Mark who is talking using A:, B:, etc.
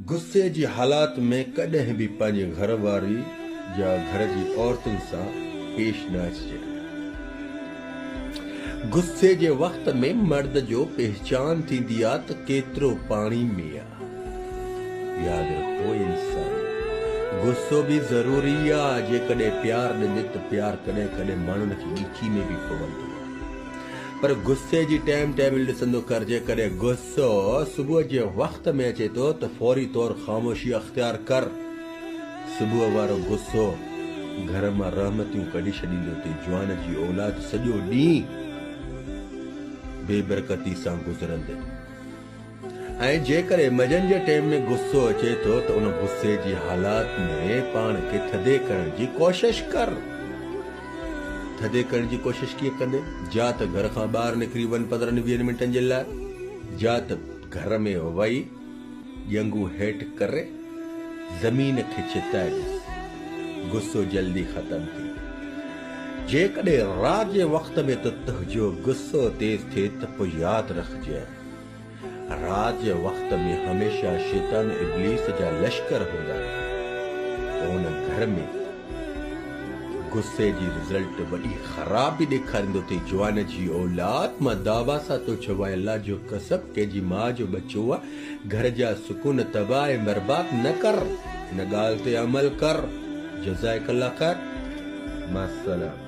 A: غصي جي حالات ۾ ڪڏهن به پنهنجي گهر واري يا گهر جي عورتن سان پيش نه اچجي. غصي جي وقت ۾ مرد جو پهچان ٿيندي آ ته ڪيترو پاڻي ۾ آ. ياد رکو انسان غصو به ضروري آ جيڪڏهن پيار ڏني ته پيار ڪڏهن ڪڏهن ماڻهن کي ڳچي ۾ به پوندو آ پر غصي جي ٽائيم ٽيبل ڏسندو ڪر جيڪڏهن غصو سو صبح جي وقت ۾ اچي ٿو ته فوري طور خاموشي اختيار ڪر. صبح وارو غصو گهر مان رحمتيون ڪڍي ڇڏيندو ٿي جوان جي اولاد سڄو ڏينهن بي برڪتي سان گذرندي ۽ جيڪڏهن منجهند جي ٽيم ۾ غصو اچي ٿو ته ان غصي جي حالات ۾ پاڻ کي ٿڌي ڪرڻ جي ڪوشش ڪر. ٿڌي ڪرڻ جي ڪوشش ڪيئن ڪندين؟ جا ته گهر کان ٻاهر نڪري وڃ پندرهن ويهن منٽن جي لاء جا ته گهر ۾ وهي ڄنگهون هيٺ ڪري زمين کي ڇتائي ڏس غصو جلدي ختم ٿي جيڪڏهن رات جي وقت ۾ ته تنهنجو غصو تيز ٿئي ته پوء ياد رکجئي رات جي وقت ۾ هميشه شيطان ابليس جا لشڪر هوندا آهن ان گهر ۾ غصي جي رزلٽ وڏي خراب به ڏيکاريندو ٿي جوان جي اولاد مان دعويٰ سان تو چوان الله جو قسم ڪنهن جي ماء جو ٻچو آ گهر جا سڪون تباهه ۽ برباد نه ڪر ان ڳالهه تي عمل ڪر جزائڪ الله خير مع السلام.